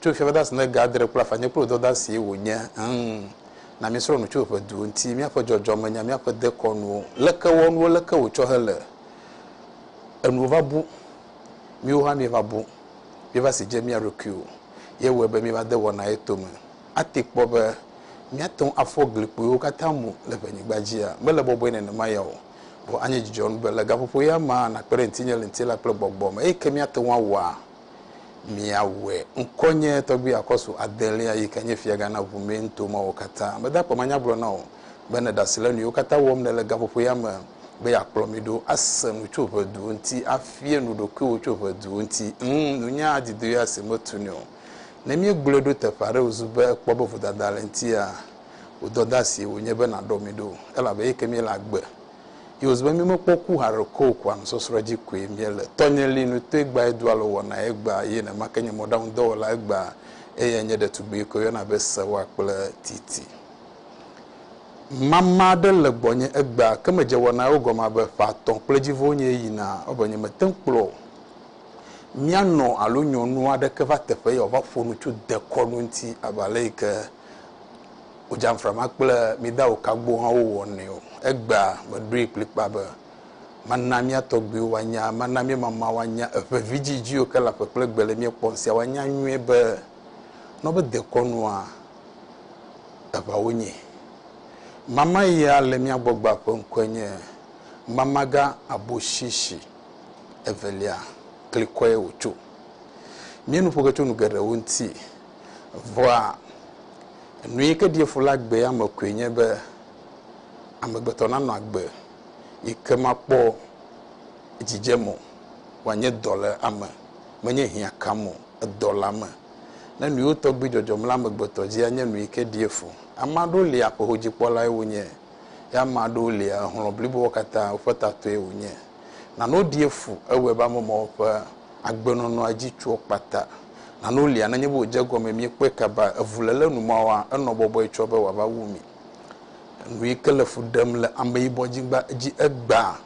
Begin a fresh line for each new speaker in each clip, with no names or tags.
Tso Fia Dɔdasi ne ga adre kple afã nye kple wò dɔdasi wò nye ŋŋ na mi srɔ̃ nu tso ƒe duwo ŋuti míaƒe dzɔdzɔme nya míaƒe dekɔnuwo leke wɔ nuwo leke wò tsɔ hele enuwo va bu míwo hã míeva bu míeva si dze mía ɖokuiwo ye wɔe be míeva de wɔna ye tome ate kpɔ be míate ŋu afɔ gli kpuiwo katã mu le ƒe nyigba dzia mele bɔbɔe nenema ya o vɔ anye dzidzɔnu be le gaƒoƒo ya mea nakpe ɖe ŋutinye le ŋutilã kple gbɔgbɔ me eye ke míate ŋu awɔa miawɔe. Ŋkɔnye tɔgbui Akɔsu adelia yi ke nye fiagã na ʋu mee nuto mawo katã. Mede akpe manya agblɔ na wò be nèɖe asi le nuyiwo katã wɔm nèle gaƒoƒo ya me be yeakplɔ mi ɖo ase nu tso ʋe duwo ŋuti, afie nu ɖokuiwò tso ʋe duwo ŋuti. Ŋ, nunya adidoe ya si metu nɛ o. Ne míegblɔe ɖo teƒe aɖe wòzu be ekpɔ be vodada le eŋutia, wò dɔdeasie wònye be nàɖɔ mi ɖo, elabe eyi ke míele agbe. Ye wòzi be mímekpɔ ku haɖe ko o, kua nusɔsrɔ̃ dzi koe míele. Tɔnye li nu toe gbaa, edoa alɔ wɔnaa egbaa, ye nenemakeŋ nye mɔɖaŋudɔwɔla egbaa, eye nye ɖetugbui koe woyɔna be Sewa kple Titi. Mama aɖe le gbɔnye egbea, ke medze wɔnawo gɔme abe ƒe atɔ̃ kple dzivo wonye eyina, ewɔ nye mete ŋu kplɔ mianɔ alo nyɔnu aɖeke va teƒe ye wòava ƒo nu tso dekɔnu ŋuti abe aleyike Wòdzamfra ma kple mi dawò kagbohawo wɔnɛ o. Egbea meɖoe kplikpaa be, Mana mía tɔgbuiwo woanya, mana mía mamawo woanya, eʋe vidzidziwo ke le aƒe kple gbe le mía kpɔm sia woanya nyuie be, ne wobe dekɔnua, eʋa wonye. Mama ya le mía gbɔgbɔa ƒe ŋkɔe nye Mamagã Aboshishi Evelia, klikɔe wòtso. Míenu ƒo ge tso nu geɖewo ŋuti. Vɔa, nu yi ke ɖi fu le agbea me koe nye be amegbetɔ nanɔ agbe yi ke makpɔ dzidzem o, wòanye dɔléame, menye hiã kam o, edɔleame. Ne nuwo tɔgbi dzɔdzɔm le amegbetɔ dzi anye nu yi ke ɖi fu. Ame aɖewo li aƒehodzikpɔlae wonye, ye ame aɖewo lia hlɔ̃ bliboa katã woƒe tatɔe wonye. Nanewo ɖi fu, ewɔe be ame mawo ƒe agbenɔnɔa dzi tsoa kpata. Nanewo lia nenye be wòdze egɔme míekpɔe kaba, evuléle nu ma wɔa enɔ bɔbɔe tsɔ be wòava wu mí. Nu yi ke le fu ɖem le ameyibɔnyigba dzi egbea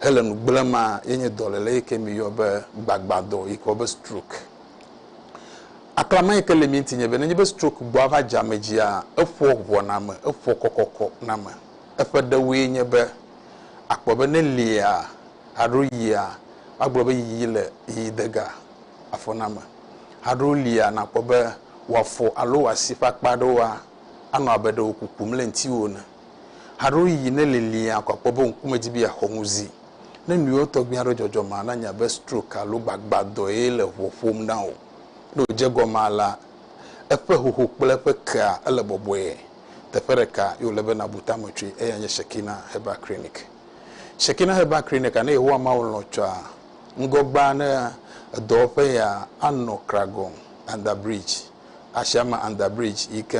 hele nu gblẽmaa ye nye dɔléle yi ke míeyɔ be gbagbãdɔ yi ke woyɔ be stroke. Aklama yi ke le mía ŋuti nye be nenye be stroke gbɔa va dze ame dzia, eƒoa ʋɔa na ame, eƒoa kɔkɔkɔ na ame. Eƒe ɖewoe nye be akpɔ be ne liea alo yia, woagblɔ be yiyi le yiyi de ga. afɔname. Haɖewo lia nàkpɔ be wò afɔ alo wò asi ƒe akpa aɖewoa, anɔ abe ɖe wò kukum le ŋutiwò ene. Haɖewo yiyi ne liliaa ko akpɔ be wò ŋkume di be yeaxɔ ŋuzi. Ne nuyiwo tɔgbi aɖewo dzɔdzɔ maa, na nya be stroke alo gbagbadɔe le ʋɔ ƒom na wò. Ne wòdze egɔme alea, eƒe hoho kple eƒe kea ele bɔbɔe. Teƒe ɖeka ye wòle be nàbu tame tsoe, eyae nye Shekinah Herbal Clinic. Shekinah Herbal Clinic, ne Yehowa Mawu lɔ̃ tsɔa, Ŋgɔgbea ne edɔwɔƒe ya anɔ Kragɔn, Under Bridge, Ashama Under Bridge yi ke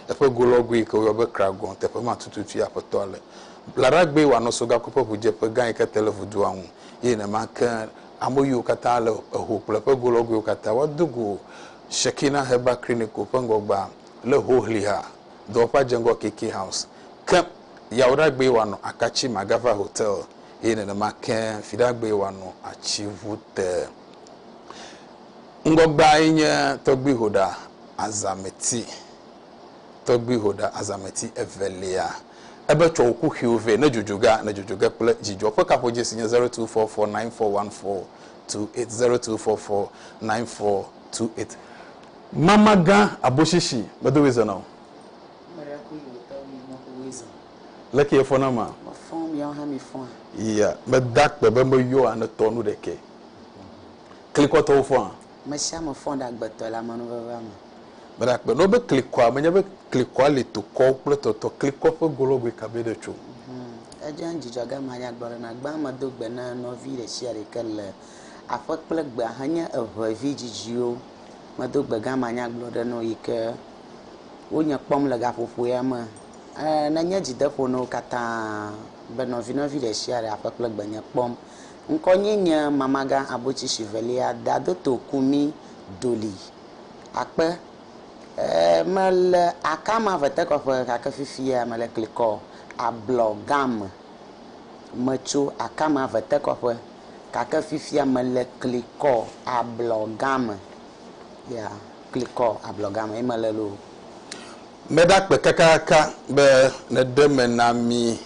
eƒe golɔgoe yi ke woyɔ be Kragɔn teƒe ma tututue Aƒetɔa le blaɖagbee wòanɔ sogakui ƒe ʋudzeƒe gã yi ke te le vudoa ŋu eye nenema ke ame yiwo katã le eho kple eƒe golɔgoewo katã woado go Shekinah Herbal Clinical ƒe ŋgɔgbea le Hohliha dɔwɔƒea dze ŋgɔ KK House ke yawoɖagbee wòanɔ Akatsi Magava Hotel eye nenema ke Fiɖagbee wòanɔ atsi ŋu te. Ŋgɔgbeae nye tɔgbuihoɖa azãmeti, tɔgbuihoɖa azãmeti evelia. Ebe, Tsɔ wò kuxiwo vɛ, ne dzodzo ge, ne dzodzo ge kple dzidzɔ. Ƒe kaƒodzesi nye zero two four four nine four one four two eight, zero two four four nine four two eight. Mamagã, Aboshishi, medo ɣi zena o. Leke yefɔ na ma? Yea,
meda
akpe be meyɔa ne tɔ nu ɖekɛ. Klikɔtɔwo fɔa? Mesiame
fɔ ɖe agbetɔ le amenuvevea me. Meda akpe ne wobe
klikɔa, menye be klikɔa li tokɔ kple tɔtɔ klikɔ ƒe golɔgɔe ka be ɖe tso. Edze ŋu dzidzɔ
ge manya gblɔ ɖe na gbã medo gbe na nɔvi ɖesiaɖe ke le aƒe kple gbea henye eŋevi dzidziwo. Medo gbe gã manya gblɔ ɖe no yi ke. wo nye kpɔm le gaƒoƒoea me. Eee ne nye dzideƒo na wo katã be nɔvinɔvi ɖe sia ɖe aƒe kple gbenye kpɔm. Ŋkɔnye nye Mamagã Abotsi Shivelia Dadoto Kumi Doli. Akpe. Eee mele akama ʋetekɔƒe gake fifia mele klikɔ ablɔ gã me. Metso akama ʋetekɔƒe gake fifia mele klikɔ ablɔ gã me. Yeah. Klikɔ ablɔga me ye mele loo. Meda
kpe kakaka be nèɖe me na mí.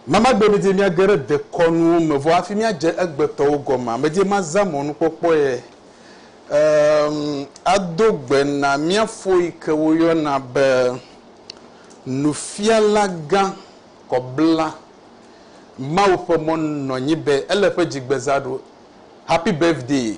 Mamagbe medie míage ɖe dekɔnuwo me vɔ hafi míadze egbetɔwo gɔmea? Medie mazã mɔnukpɔkpɔe em ado gbe na mía fo yi ke woyɔna be Nufialagã kɔbla Mawu ƒe mɔ nɔnyi be ele ƒe dzigbezã ɖo. Happy birthday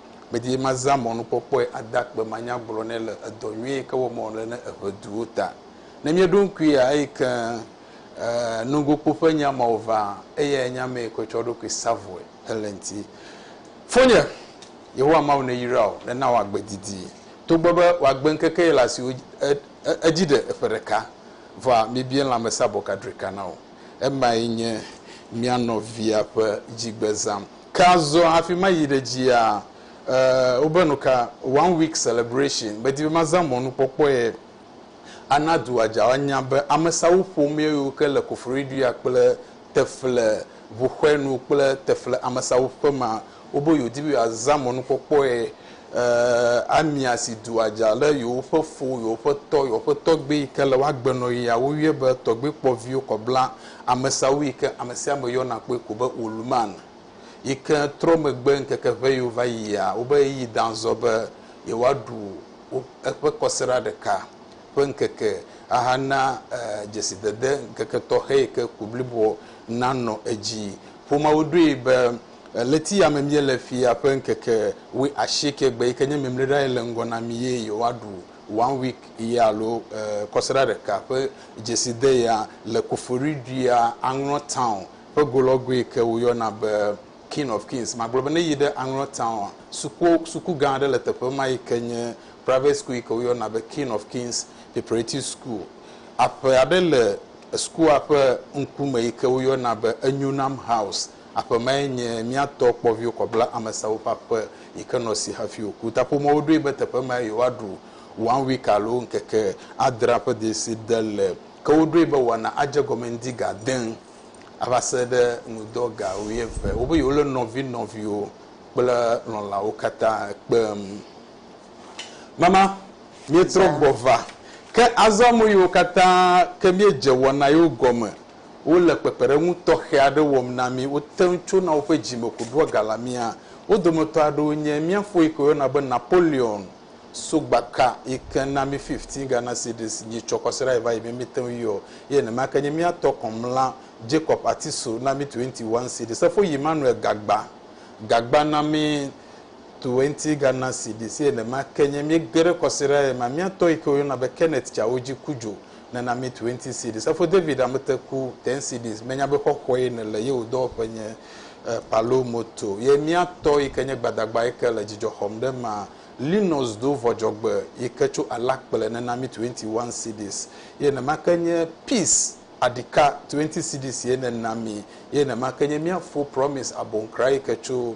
Medi be mazã mɔnukpɔkpɔe ade akpe manyagblɔ nɛ le edɔ nyui yi ke wɔm wòle na eŋeduwo ta. Ne míeɖo ŋkuia eyi ke nugokpo ƒe nya mawo ʋãa, eyae nye ame yi ke tsɔ eɖokui sa vɔe hele ŋuti. Fonye, Yehowa Mawu neyra wò, nena wò agbe didi. Togbɔ be wò agbeŋkeke yi le asiwò edzi ɖe eƒe ɖeka, vɔa mibia lãmesẽabɔ ka drika na wò. Emae nye mía nɔvia ƒe dzigbezã. Ke azɔ hafi mayi ɖe dzia, e, wobe nuka, One Week Celebration, medi be mazã mɔnukpɔkpɔe ana dua dza woanya be amesawu ƒomea yiwo ke le Koforidua kple Tefle ʋuxɔe nu kple Tefle amesawuƒema wobe yewodi be yewoazã mɔnukpɔkpɔe, e, amia si dua dza le yewoƒe fo, yewoƒe tɔ, yewoƒe tɔgbui yi ke le woagbenɔɣia woyɔe be tɔgbui kpɔviwo kɔbla Amesa wui ke amesiame yɔna kpɔe ko be Woluman yi ke trɔ megbe ŋkeke ʋɛyiwo va yia, wobe ɣeyiɣi dã zɔ be yewoaɖu wo eƒe kɔsiɖa ɖeka ƒe ŋkeke ahana dzesidede ŋkeke tɔxɛ yi ke ku bliboa nanɔ edzi. Ƒomeawo ɖoe be ɣleti ya me míele fia ƒe ŋkeke wuiasieke gbe yi ke nye mimliɖaɣi le ŋgɔ na mí ye yewoaɖu. One Week ye alo Kɔsiɖa Ɖeka ƒe dzeside yea le Koforidua, Aŋlɔ Town ƒe go lɔ goe ke woyɔna be King of Kings. Magblɔ be ne yi ɖe Aŋlɔ Town a, suku suku gã aɖe le teƒe ma yi ke nye Private School yi ke woyɔna be King of Kings Preparative School. Aƒe aɖe le sukua ƒe ŋkume yi ke woyɔna be Enyonam House. Aƒe mae nye mía tɔ kpɔviwo kɔbla amesawo ƒe aƒe yi ke nɔ si hafi wòku. Ta ƒomeawo ɖoe be teƒe mae yewoaɖu One Week alo Ŋkeke Adrea ƒe dzeside le. Ke woɖoe be woana adze egɔme ŋdi ga ade ŋu ava se ɖe ŋudɔ ga wuieve. Wobe yewolé nɔvi nɔviwo kple lɔ̃lawo katã kpem. Mama, míetrɔ gbɔ va. Ke azɔ ame yiwo katã ke míedze wɔna yewo gɔme wole kpekpeɖeŋu tɔxɛ aɖe wɔm na mí. Wote ŋu tsona woƒe dzimeku ɖoa ga la mía. Wo dometɔ aɖewo nye mía foe yike woyɔna be Napoleon Sogbaka yike na mí fifteen Ghana cedis dzi tsɔ kɔsiɖa yi va yi mí míte ŋu yɔ eye nenema ke nye mía tɔ kɔmla Jacob Atiso na mí twenty one cedis. Efo yi Emmanuel Gagba Gagba na mí twenty Ghana cedis eye nenema ke nye míege ɖe kɔsiɖa yi ma mía tɔ yike woyɔna be Kenneth Tsawodzi Kudjo nana mi twenty cedis efo david amete ku ten cedis menya be xɔxɔe ne le yewo dɔwɔƒe nye eh, palo moto ye mia tɔ yi ke nye gbadagba yi ke le dzidzɔ xɔm ɖe ma linus do vɔdzɔgbe yi ke tso alakple nena mi twenty one cedis ye nema ke nye peace adika twenty cedis ye nena mi ye nema ke nye mia fo promise abonkra yi ke tso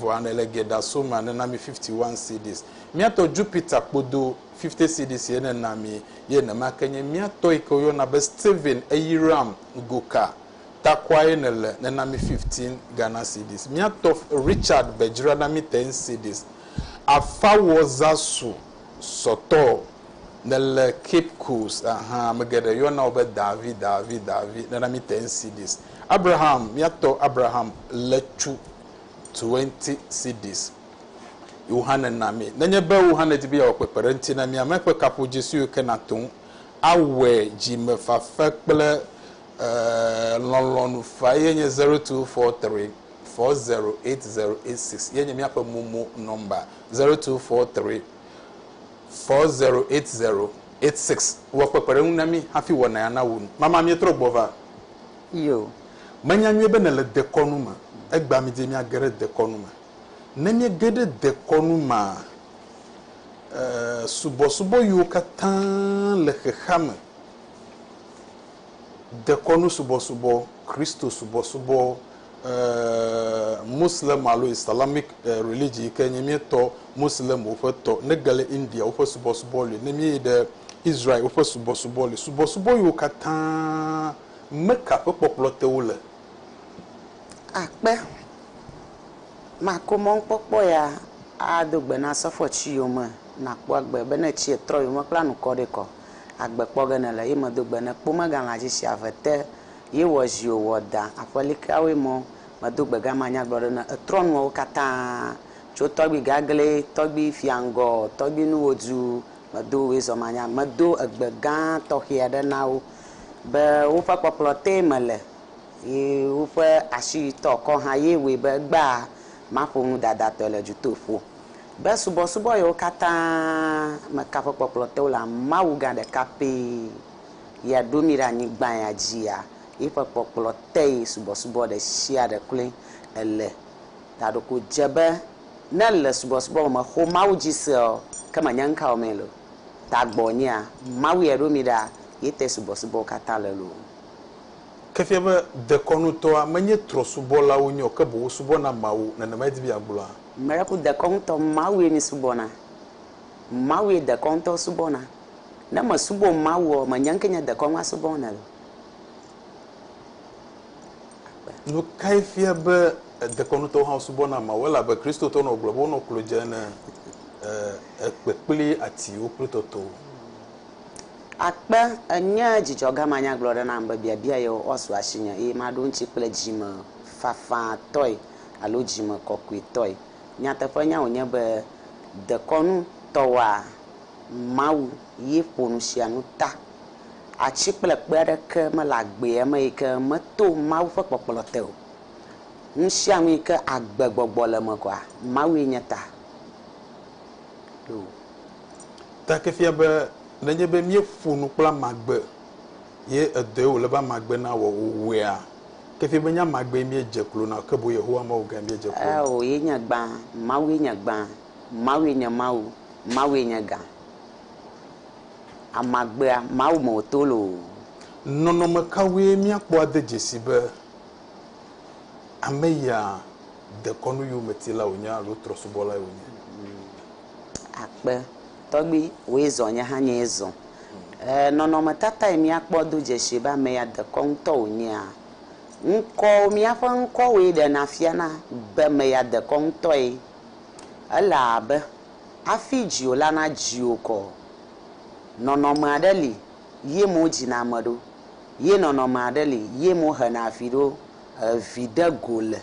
Vɔa nele ge ɖa so ma ne na mi fifty one cedis. Mía tɔ Jupiter kpodo fifty cedis ye ne na mi ye nema ke nye mía tɔ yike woyɔ na be Steven Eyiram Goka takua ye ne le ne na mi fifteen Ghana cedis. Mía tɔ Richard be dzra na mi ten cedis. Afawɔ Zasu sɔtɔ ne le Cape Coast ahan ame geɖe yɔ na wo be Davi Davi Davi ne na mi ten cedis. Abraham mía tɔ Abraham Letsu. 20 cedis Yohane na mí. Nenye be Yohane di be yeawɔ kpekpeɖeŋuti na mí, ame ƒe kaƒodzi siwo ke nàte ŋu awɔe dzimefafa kple lɔlɔ̃nu faa ye nye 0243 408086 ye nye míaƒe momo nɔmba, 0243 408086. Wɔ kpekpeɖeŋu na mí hafi wɔ naya nawu nu. Mama, míetrɔ gbɔ va. Iyo,
Menya nyuie
be nèle dekɔnu me. Egbea midie miage ɖe dekɔnu me. Ne miege ɖe dekɔnu mea, ee, subɔsubɔ yiwo katã le xexea me, dekɔnu subɔsubɔ, Kristo subɔsubɔ, ee, Muslim alo Islamic religion yi ke nye míetɔ Muslimwo ƒe tɔ, nege le India woƒe subɔsubɔ li, ne míeyi ɖe Israel woƒe subɔsubɔ li, subɔsubɔ yiwo katã Nume ka ƒe kpɔkplɔ te wole? Akpe
mako mɔnukpɔkpɔ ya ado gbe na sɔfoa tsi yome nakpɔ agbe be ne tsi etrɔ yome kple anukɔ ɖe kɔ agbe kpɔ ge nele ye medo gbe ne kpo mega la dzi tsi ave te ye wɔ zi o wɔ da aƒe likea woe mɔ medo gbe gama nyagblɔ ɖe ne etrɔ nua wo kata tso tɔgbi gagle tɔgbi fia ŋgɔ tɔgbi nuwo du medo woe zɔmanya medo egbe gã tɔxia ɖe na wo. be woƒe kpɔkplɔ tee mele ye woƒe asiyitɔkɔ hã ye wɔe be egbea maƒo nu dadatɔe le dutoƒo. Be subɔsubɔ yewo katã me ka ƒe kpɔkplɔ te wole Mawu gã ɖeka pɛ ya ɖo mí ɖe anyigba ya dzia? Yiƒe kpɔkplɔ tee subɔsubɔ ɖesiaɖe kloe ele. Taɖo ko dze be ne le subɔsubɔ me mexo Mawu dzi sea, ke menye ŋkawomee le o. tagbɔ nyea Mawu ya ɖo mi ɖa ye te subɔsubɔwo katã le loo. Ke fia
be dekɔnutɔa menye trɔsubɔlawo nye o, ke boŋ wosubɔna Mawu. Nenemae di be yeagblɔa? Miracle dekɔnutɔ
Mawu ye mi subɔna. Mawu ye dekɔnutɔwo subɔna. Ne me subɔ Mawua, menye ŋke nye dekɔnua subɔm nɛ o.
agbe. Nu kae fia be dekɔnutɔwo hã subɔna Mawu? Elabe Kristotɔwo nɔ gblɔ be wonɔ klo dze ne ekpe kple atiwo kple tɔtɔwo. Akpe,
enye dzidzɔga manyagblɔɖi nam be biabia yewo woasu asinye eye maɖo eŋuti kple dzime fafãtɔe alo dzime kɔkɔetɔe. Nyateƒenya wònye be dekɔnutɔwoa, Mawu ye ƒo nusianu ta. Atsi kple kpe aɖeke mele agbea me yi ke meto Mawu ƒe kpɔkplɔ te o. Nusianu yi ke agbe gbɔgbɔ le eme koa, Mawue nye ta ɖo.
Ta ke fia be nenye be míeƒo nu kple ame agbe ye edɔe wòle be ame agbe nawɔ o wɔea, ke fia be nye ame agbee míedze klo na o, ke boŋ Yehowa Mawu gãe míedze klo na. Ao, ye nye gbã,
Mawue nye gbã, Mawue nye Mawu, Mawue nye gã. Amagbea, Mawu me wòto loo. Nɔnɔme
kawoe míakpɔ ade dzesi be ame ya dekɔnu yometila wònye alo trɔ̃subɔlae wònye?
Akpe, Tɔgbui, wòe zɔ nye hã nyee zɔ. Ee, nɔnɔmetatae míakpɔ ado dzesi be ame ya dekɔnutɔ wònyea? Ŋkɔwo, Míaƒe ŋkɔwoe ɖena fiana be ame ya dekɔnutɔe ele abe. Hafi dziwò la nadzi wò kɔ. Nɔnɔme aɖe li ye mo dzina ame ɖo ye nɔnɔme aɖe li ye mo hena avi ɖo. Evi ɖe go le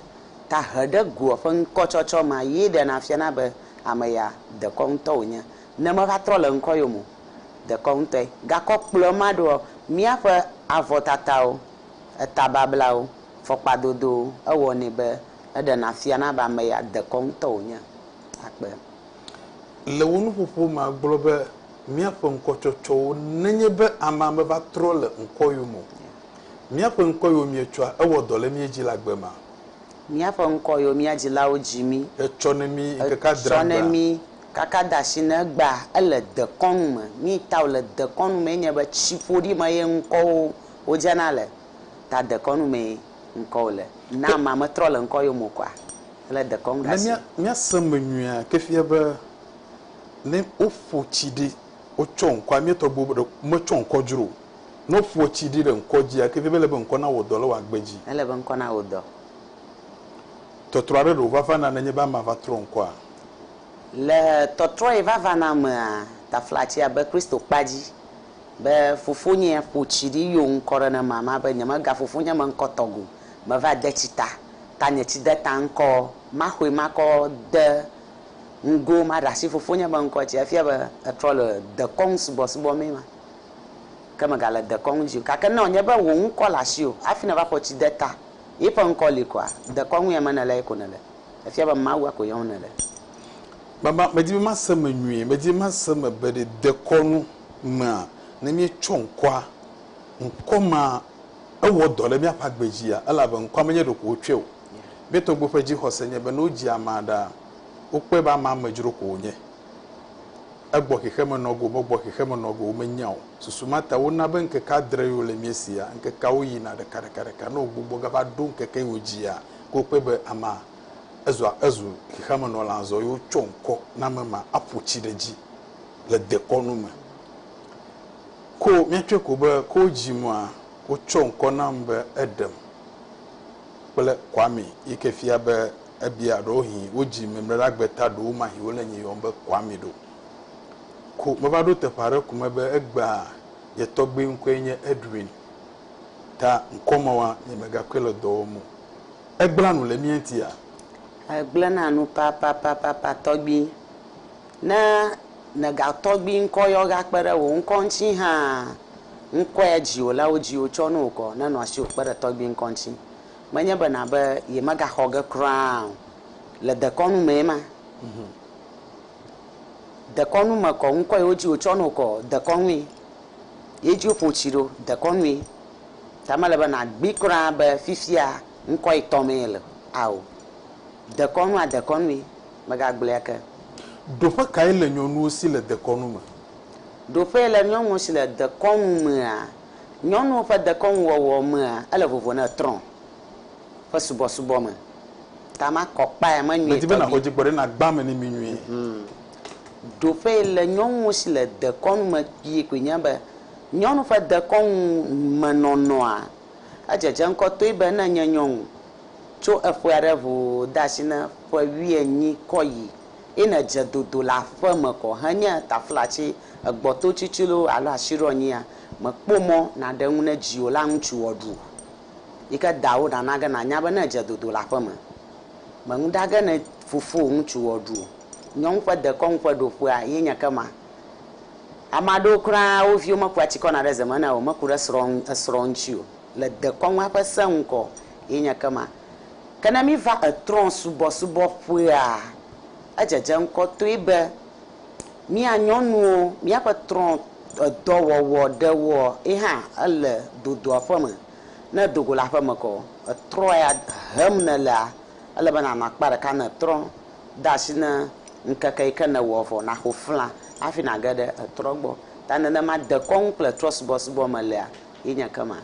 ta he ɖe goa ƒe ŋkɔ tsɔtsɔ ma ye ɖe na fiana be ame ya dekɔ ŋutɔ wo nye ne me va trɔ le ŋkɔ yo mo dekɔ ŋutɔe. Gakɔ kplɔe ma ɖoa mía ƒe avɔ tatawo, eta bablawo, fɔkpa dodowo ewɔ nɛ be eɖe na fiana be ame ya dekɔ ŋutɔ wo nye. akpe.
Le wò nuƒoƒo me agblɔ be míaƒe ŋkɔtsɔtsɔwo nenye be amea meva trɔ le ŋkɔ yom o. Míaƒe ŋkɔ yom míetsɔa ewɔ dɔ le mía dzi le agbe mea? Míaƒe
ŋkɔ yom mía dzilawo dzi mí. Etsɔ ne mí
ŋkeke adre agbe. Etsɔ ne mí kaka
de asi ne egbea ele dekɔnu me. Mí ta wòle dekɔnu mee nye be tsiƒoɖi me ye ŋkɔwo wodzena le. Ta dekɔnu mee. ŋkɔwò le. Na amea metrɔ le ŋkɔyome o kɔa, ele dekɔnu ɖe asi. Ne míase eme nyuie
ke fia be ne woƒo tsi ɖi wotsɔ ŋkɔa, mía tɔgbuiwo ɖeko metsɔ ŋkɔ dzro o. Ne woƒoa tsi ɖi ɖe ŋkɔ dzia, ke fia be ele be ŋkɔ nawɔ dɔ le wò agbe dzi. Ele be ŋkɔ nawɔ dɔ. Tɔtrɔ aɖe ɖeko va vana nenye be amea va trɔ ŋkɔa? Le
tɔtrɔ yi va vana mea, taflatsi abe Kristo kpa dzi. Be fofonyea ƒo tsi ɖi yo ŋkɔ ɖe ne mama be nyemega fofonye me ŋkɔ tɔgbe o. Meva de tsi ta. Ta nye tsi de ta ŋkɔ. Maxoe makɔ de ŋgo maɖe asi fofonye be ŋkɔ tsi. Efia be etrɔ le dekɔnu subɔsubɔ mee ma. Ke mega le dekɔnu dzi o. Gake ne wònye be wò ŋkɔ le asiwò hafi nèva ƒo tsi de ta ye ƒe ŋkɔ li koa, dekɔnu ya me nèle ye ko nèle. Efia be Mawua ko yɔm nèle. Baba,
medi be mase eme nyuie, medi be mase eme be ɖe dekɔnu mea, ne míetsɔ ŋkɔa, ŋkɔ ma ewɔ dɔ ɖe míaƒe agbe dzia? Elabe ŋkɔa menye ɖeko wotsɔe o. Mía tɔgbuiwo ƒe dzixɔse nye be ne wodzi amea ɖaa, wokpɔe be amea amedzro ko wònye. Egbɔ xexemenɔgo, megbɔ xexemenɔgo o, menya o. Susu ma ta wona be ŋkeke adrewoe wole mía sia. Ŋkekeawo yina ɖekaɖekaɖeka. Ne wògbugbɔ gava ɖo ŋkeke yi wòdzia, ke wokpɔe be amea. Ezua ezu xexeamenɔla azɔ eye wotsɔ ŋkɔ na ame ma aƒo tsi ɖe edzi le dekɔnu me. Ko míatsɔe ko be ko wodzim maa, wotsɔ ŋkɔ nam be Edem kple Kwame yi ke fia be ebia ɖewohĩ wodzi mɛmlɛɖagbe ta ɖewomahi wole nye yɔm be Kwame ɖo. Ko meva ɖo teƒe aɖe ko me be egbea nye tɔgbui ŋkɔe nye Edwin ta ŋkɔ mawoa nyemegakɔe le dɔ wɔm o. Egblẽa nu le mía ŋutia? Egblẽna
nu papapapapa tɔgbi. Ne nègatɔgbi ŋkɔ yɔ gakpe ɖe wò ŋkɔ ŋuti hã, ŋkɔe dziwò le wo dziwò tsɔ ne wò kɔ nenɔ asiwò kpe ɖe tɔgbi ŋkɔ ŋuti. Menye be nàbe yemegaxɔ ge kura o. Le dekɔnu mee ma. Dekɔnu me kɔ ŋkɔ yi wodzi wò tsɔ ne wò kɔ, dekɔnue. Ye dzi woƒo tsi ɖo, dekɔnue. Ta mele be nàgbee kura be fifia ŋkɔ etɔ̃ mee le ao. Dekɔnu a dekɔnue, megagblɔe ake. Ɖoƒe kae
le nyɔnuwo si le dekɔnu me? Ɖoƒe le
nyɔnuwo si le dekɔnu mea? Nyɔnuwo ƒe dekɔnuwɔwɔ mea, ele vovo ne trɔ̃ ƒe subɔsubɔ me. Ta makɔ kpae me nyuie tɔgbi. Medi be nàxɔ dzigbɔ ɖe nàgbã
ame ne mi nyuie.
Ɖoƒe le nyɔnuwo si le dekɔnu me kpuie koe nye be Nyɔnu ƒe dekɔnu me nɔnɔa edzedze ŋkɔ toe be ne nye nyɔnu tso eƒe aɖe ŋu de asi ne ƒe wuienyi kɔ yi eye nedze dodo le aƒe me kɔ henye taflatsi, egbɔto tsitsilo alo asiɖɔnyia, mèkpɔ mɔ nàɖe ŋu ne dziwò la ŋutsu wɔɖu yi ke dawò nana ge nànya be ne èdze dodo le aƒe me mèŋu ɖa ge ne fofowò ŋutsu wɔɖu o. Nyɔnu ƒe dekɔnu ƒe ɖoƒea ye nye ke ma. Ame aɖewo kura wo viwo mekua tsi kɔna ɖe ze me na wo, meku ɖe srɔ̃ ŋu, esrɔ̃ ŋuti o, le dekɔnua ƒe se ŋkɔ ye nye ke ma. Ke ne míva etrɔ̃ subɔsubɔ ƒea, edzedze ŋkɔ toe be mía nyɔnuwo, míaƒe trɔ̃ edɔ wɔwɔ ɖewo ye hã ele dodoaƒeme. Ne dogo le aƒeme kɔ, etrɔ̃ ya hem nelea, Ele be nànɔ akpa ɖeka ne ètrɔ de asi ne ŋkeke yi ke nèwɔ vɔ naxo fla hafi nàge ɖe etrɔ gbɔ. Ta nenema dekɔnu kple trɔsubɔsubɔ me lea ye nye kema.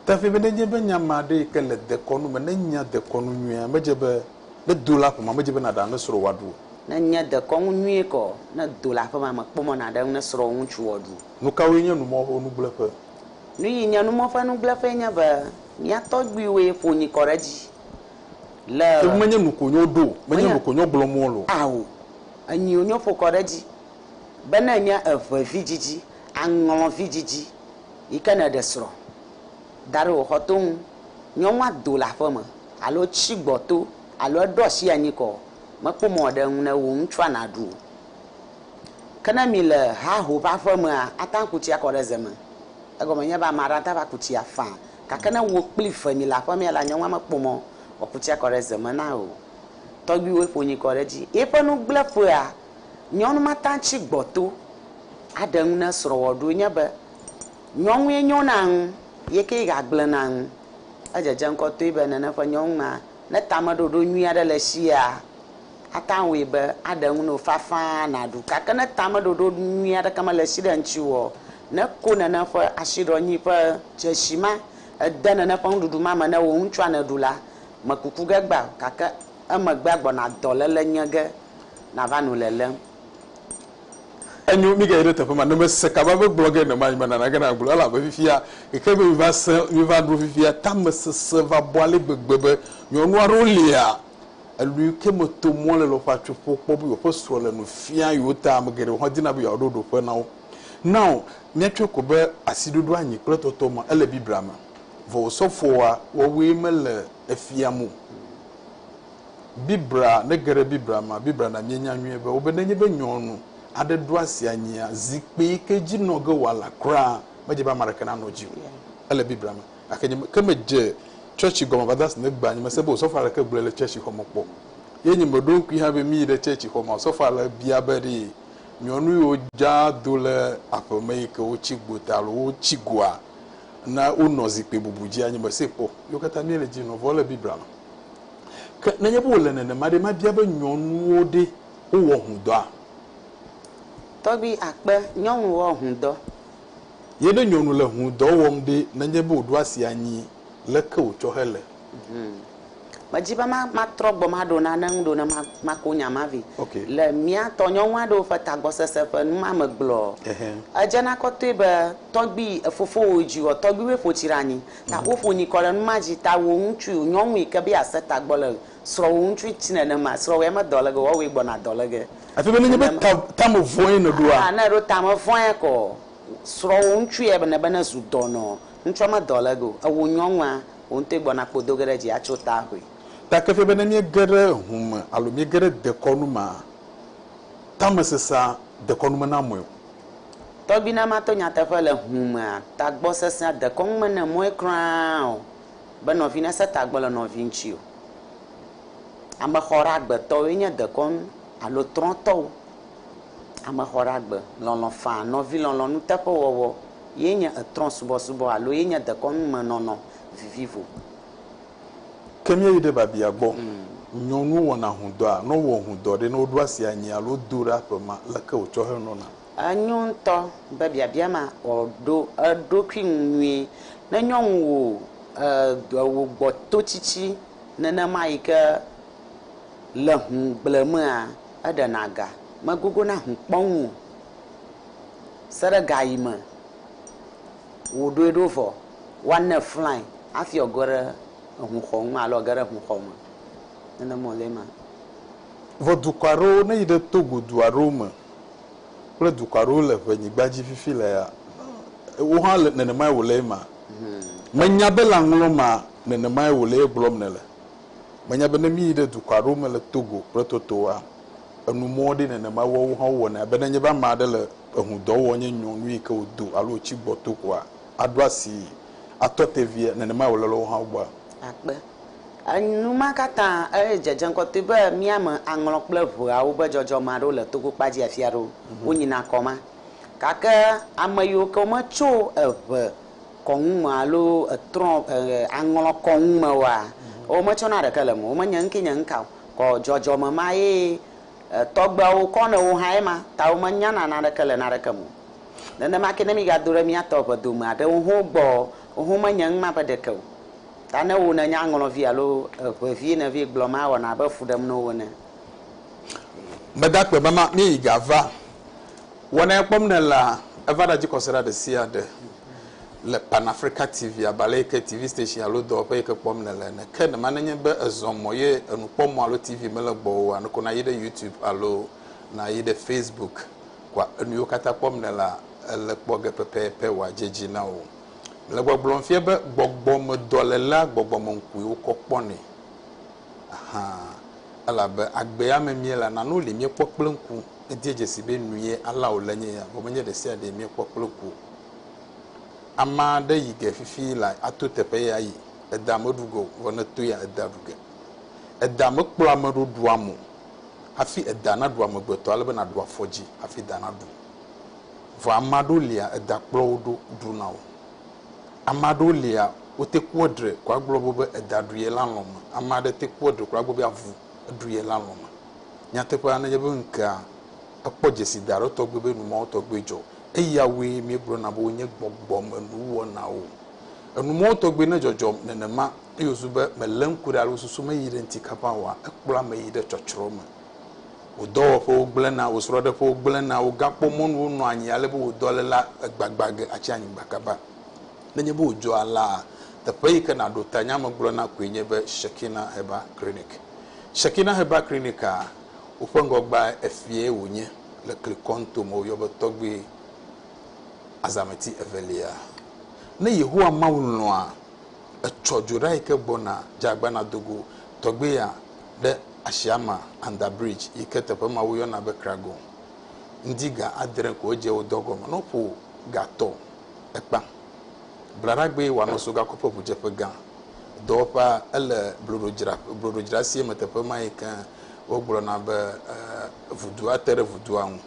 Te ŋui
be nenye be nye ame aɖe yi ke le dekɔnu me nenya dekɔnu nyuie medze be ne do le aƒemea medze be nàɖe ame srɔ̃ wòaɖu o. Ne nye dekɔnu
nyuie kɔ ne do le aƒemea mekpɔmɔ nàɖe ame srɔ̃ ŋutsu wòaɖu o. Nukawoe nye
numɔ̃xonugblẽƒe? Nu yi nye
numɔ ƒe nugblẽƒee nye be mía tɔgbuiwoe ƒo nyi kɔ ɖe edzi le. Ke menye nu ko nyɔ
ɖo o, menye nu ko nyɔ gblɔ mɔ lo. Ao,
enyiwo nyɔ ƒo kɔ ɖe edzi be ne enye eve vidzidzi, aŋlɔ vidzidzi yi ke nèɖe srɔ̃ da ɖe wò xɔto ŋu, nyɔnua do le aƒeme alo tsi gbɔto alo eɖo asi anyi kɔ, mekpɔ mɔ aɖe ŋu ne wò ŋutsua nàɖu o. Ke ne mi le haho ƒe aƒe mea, ate ŋu aku tsi akɔ ɖe ze me. Egɔme nye be ame aɖe ate ŋu va ku tsi afa. Gake ne wò kpli eve mi le aƒe mea la, nyɔnua mekpɔ mɔ wòaku tsi akɔ ɖe ze me na o. Tɔgbuiwoe ƒo nyui kɔ ɖe edzi. Yeƒe nugblẽƒea, nyɔnu ma tea ŋu tsi gbɔto aɖe ŋu ne srɔ̃ wɔ ɖoe nye be, nyɔnue nyo na ŋu, ye ke ga gblẽ na ŋu. Edzedze ŋkɔtɔe be nene ƒe nyɔnu ma, ne tameɖoɖo nyui aɖe le esia, ate ŋu awɔe be aɖe ŋu na wò fafã nàɖu. Gake ne tameɖoɖo nyui aɖeke mele esi ɖe ŋutiwò o, ne ko nène ƒe asiɖɔnyui ƒe dzesi ma, ède nène ƒe nuɖuɖu ma me ne wò ŋutsua nèɖu la, mekuku ge gbã o, gake emegbea gbɔna dɔléle nye ge nàva nu lelém.
Enyo, mígayi ɖe teƒe ma. Ne mèse kaba be gblɔ ge nemae me nana ge nàgblɔ elabe fifia eke be miva sẽ, miva ɖo fifia, tamesesẽ va bɔ ale gbegbe be nyɔnu aɖewo lia, Elui ke me to mɔ le lɔƒea tso ƒo kpɔ be yewoƒe srɔ̃ le nu fia yewo ta. Ame geɖewo hã dina be yewoaɖo ɖoƒe na wo. Nao míatsɔe ko be asiɖoɖo anyi kple tɔtɔ ma ele Biblia me. Vɔ osɔfoa wɔwɔe mele efiam o. Biblia, ne ege ɖe Biblia mea, Biblia na míenya nyuie be wobe nenye be nyɔnu aɖe ɖo asi anyia, zikpui yi ke dzi nɔ ge wòala kura, medze be ame aɖeke nanɔ edzi o. Ele Biblia me. gake nye ke me dze church gɔme va das ne gba nye me se be osɔfo aɖeke gblɔe le church xɔme kpɔ ye nye me ɖo ŋkui hã be mi yi ɖe church xɔ ma osɔfo ale bia be ɖi nyɔnu yi wo dza do le aƒe me yi ke wo tsi gbota alo wo tsi goa na wo nɔ zikpe bubu dzi anye me se kpɔ yo kata mi le dzi nɔ vɔ le bibla me ke ne nye be wole nene ma ɖe ma bia be nyɔnuwo ɖe wo wɔ hudɔa
tɔgbi akpe nyɔnu wɔ hudɔ Ye ne
nyɔnu le hũ dɔ wɔm ɖe nenye be wòɖo asi anyi leke wòtsɔ hele? Hum.
Medzi be matrɔ gbɔ maɖo nane ŋu ɖo ne mako nya ma vɛ. Okay. Le mía
tɔ nyɔnu
aɖewo ƒe tagbɔsese ƒe nu ma me gblɔ, edzena kɔtɔe be tɔgbui fofowòe dzi ɔ, tɔgbuiwoe ƒo tsi ɖe anyi. Ta woƒo nyikɔ ɖe nu ma dzi. Ta wò ŋutsui, nyɔnu yi ke be yease tagbɔ le Srɔ̃wò ŋutsui tsi nenema. Srɔ̃wòe me dɔ lege o, woawɔe gbɔna dɔ lege. Afi bene nye be Nenema. ta,
ta me vɔ̃e nèɖoa? Aa, ne èɖo ta me vɔ̃ea
kɔ, srɔ̃wò ŋutsui ebe ne, bene zu dɔnɔ. Ŋutsua me dɔ lege o. Ewò nyɔnua, wò ŋutɔe gbɔna kpo do ge ɖe dzi atso ta hoe. Ta ke fia be ne
míege ɖe hu me alo míege ɖe dekɔnu mea, tamesesea dekɔnu mena amɔe o. Tɔgbi
na mato nyateƒe le hu mea, tagbɔsesea dekɔnu mene mɔe kura o. Be nɔvi nese tagbɔ le nɔvi ŋuti o. Amexɔɖeagbetɔwoe nye dekɔnu alo trɔ̃tɔwo. Amexɔɖeagbe, lɔlɔ̃ faa, nɔvilɔlɔ̃ nuteƒewɔwɔ ye nye etrɔ̃subɔsubɔ alo ye nye dekɔnu me nɔnɔ vivivo.
Ke míeyi ɖe biabia gbɔ. Nyɔnuwo wɔna hũdɔa? Ne wowɔ hũdɔ ɖe, ne woɖo asi anyi alo do ɖe aƒe ma, leke wotsɔ henɔna? Enyo ŋutɔ
be biabia ma wòɖo eɖokui ŋu nyuie. Ne nyɔnu wò wò gbɔtotsitsi nenema yi ke le ŋu gblẽmea, eɖena ga, megogona ŋu kpɔnu o se ɖe ga yi me wòɖoe ɖo vɔ woanɛ flae hafi wòage ɖe eŋuxɔ ŋu alo wòage ɖe eŋuxɔ me. Nenema wòle ema. Vɔ
dukɔ aɖewo, ne yi ɖe Togo du aɖewo me kple dukɔ aɖewo le ʋe nyigba dzi fifi lea, wò hã nenemae wòle ema? Menya be lã ŋlɔ ma nenemae wòle egblɔm nèle. Menya be ne míyi ɖe dukɔ aɖewo me le Togo kple Totoa, enu mɔ ɖi nenemae woawo hã wowɔnɛ. Abe ne nye be ame aɖe le eŋu dɔ wɔm nye nyɔnu yi ke wòdo alo wòtsi gbɔto koa, aɖo asii, atɔ te vie, nenemae wòle le woawo hã gbɔa? Akpe.
Enu ma katã edze dze ŋkɔtɔe be mía me aŋlɔ kple ʋeawo be dzɔdzɔme aɖewo le togo kpa dzi afi aɖewo wonyina kɔ ma. Gake ame yiwo ke wometso eʋe kɔ ŋu me alo etrɔ̃ aŋlɔ kɔ ŋu me oa, wometsɔna ɖeke le eme o. Womenye ŋke nye ŋka o, kɔ dzɔdzɔme ma ye tɔgbeawo kɔ ne wo hã ye ma ta womenyana naneke le naneke me o. Nenema ke ne mígado ɖe mía tɔ ʋe dome aɖewo hã gbɔ, wohã womenye ŋma be ɖeke o. Ta ne wò nènye aŋlɔvi alo eŋevi nèvi gblɔm la, awɔna abe fu ɖem na wò ene.
Meda akpe be ma míeyi ga va. Wɔnae kpɔm nèlea, eva ɖa dzikɔsiɖa ɖe sia ɖe le Pan Africa TV abalɛ yi ke TV station alo dɔwɔƒe yi ke kpɔm nèle ene. Ke ne ma nenye be èzɔ mɔ ye enukpɔmɔ alo TV mele gbɔwò o, aneko nàyi ɖe YouTube alo nàyi ɖe Facebook kpɔa, enuyiwo katã kpɔm nèlea, ele kpɔ ge pɛpɛpɛ wòadze dzi na wò. Le gbɔgblɔm fia be gbɔgbɔmedɔlélea gbɔgbɔmeŋkue wokɔ kpɔnɛ. Ahan. Elabe agbea me míele nanewo li míekpɔ kple ŋku. Edie dzesi be nue alea wòle nye ya vɔ menye ɖesiaɖee míekpɔ kple ŋku o. Ame aɖe yi ge fifi la ato teƒe ye ayi. Edea meɖu ge o, vɔ ne etoe ya edea ɖu ge. Edea mekplɔa ame ɖo ɖua mo hafi edea naɖu amegbetɔ ale be naɖu afɔdzi hafi edea naɖu. Vɔ ame aɖewo lia eda kplɔ wo ɖo ɖuna o. Ame aɖewo lia wote kpɔ ɖre ko agblɔ be be eda ɖu ye la lɔ̃me. Ame aɖe te kpɔ ɖre ko agblɔ be avu ɖu ye la lɔ̃me. Nyateƒea nenye be ŋkea ekpɔ dzesi da aɖe tɔgbe be numawo tɔgbe dzɔ. Eyawoe míegblɔna be wonye gbɔgbɔmenuwɔnawo. Enumawo tɔgbe ne dzɔdzɔ nenema eye wòzu be mele ŋku ɖe alo susu meyi ɖe ŋti kaba oa, ekplɔa ame yi ɖe tsɔtsrɔ̃ me. Wò dɔwɔƒewo gblẽna, wò srɔ̃ɖeƒewo gblẽna, wògakpɔ mɔnu wonɔa anyi ale be wò dɔléla gbagbã ge atsi anyigba kaba. Nenye be wòdzɔ alea, teƒe yi ke nàɖo ta nya me gblɔna koe nye be Shekinah Herbal Clinic. Shekinah Herbal Clinic-a, woƒe ŋgɔgbea Efiae wònye le Klikoan to me woyɔ be Tɔgbui Azameti Evelia. Ne Yehowa Mawu lɔ̃a, etsɔ dzo ɖa yi ke gbɔna, dze agbana do go. Tɔgbuia. ɖe Ashiama Under Bridge yi ke teƒe ma woyɔna be Kragon. Ŋdi ga adre ko edze wo dɔ gɔme ne woƒo ga tɔ ekpa. Blaɖagbee wòanɔ so gakoƒe ŋudzeƒe gã. Dɔwɔƒea ele bloɖodzra bloɖodzrasie me teƒe ma yi ke wogblɔna be eh, vudua te ɖe vudua ŋu.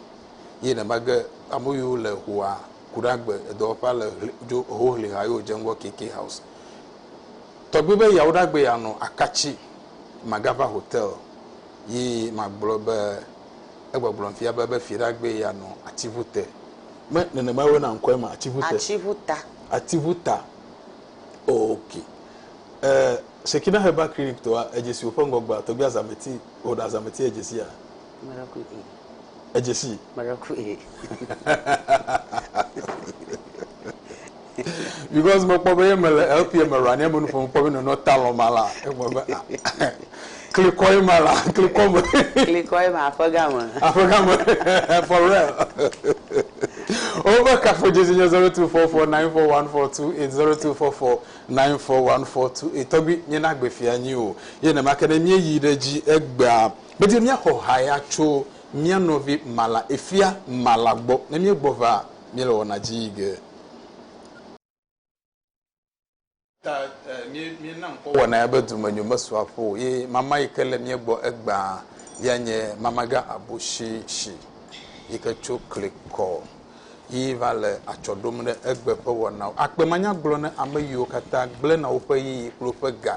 Ye neva ge ame yiwo le hoa ku ɖe agbe edɔwɔƒea le ʋli- dzo hoʋliha ye wodze ŋgɔ KK House. Tɔgbi be Yawoɖagbee anɔ akatsi Magava hotel yi magblɔ be egbɔgblɔm fia be be Fiɖagbee ya nɔ atiŋu te. Me nenemae woyɔna ŋkɔe ma? Atiŋu te. Atiŋu ta. Atiŋu ta. Ok. E, Shekinah Herbal Clinic tɔa, edzesi woƒe ŋgɔgbea, tɔgbia Zameti, woɖa Zameti edzesi ya.
Meɖe ku e. Edze
si. Meɖe ku e. because mekpɔ be ye mele LP me ra ne menu fɔm kpɔ be nɔnɔ talɔ ma la egbe be ah, klikɔ ye ma la klikɔ me klikɔ ye ma aƒe game aƒe game for real over kafo jezi nye 024494128024494142 tɔgbi nye na gbe fia nyi o ye ne ma ke ne mie yi ɖe dzi egbea Medi míaxɔ haya tso mía nɔvi Mala efia Mala gbɔ. Ne míegbɔ va míele wɔna dzi yi ge. Ta míena ŋkɔ wɔna ya be Dumenyo Mesu Aƒo O ye mama yi ke le mía gbɔ egbea ya nye Mamaga Abushishi yi ke tso Klikɔ yi va le atsɔ ɖom ɖe egbe ƒe wɔnawo. Akpemanyagblɔ ne ame yiwo katã gblẽna woƒe ɣeyiɣi kple woƒe ga.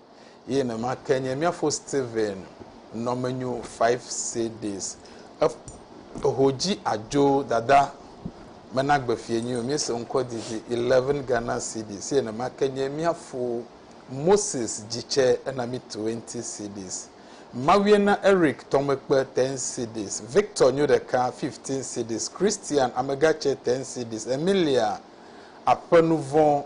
Ye nema ke nye miafo Stephen nɔmenyo five CDs. Eho dzi adzo dada mena gbe fie nyi o miese ŋkɔ didi eleven Ghana CDs. Ye nema ke nye miafo Moses dzitse ena mi twenty CDs. Mawie na Eric tɔmekpe ten CDs. Victor nyo ɖeka fifteen CDs. Christian amegatse ten CDs. Emilia aƒe nuvɔ.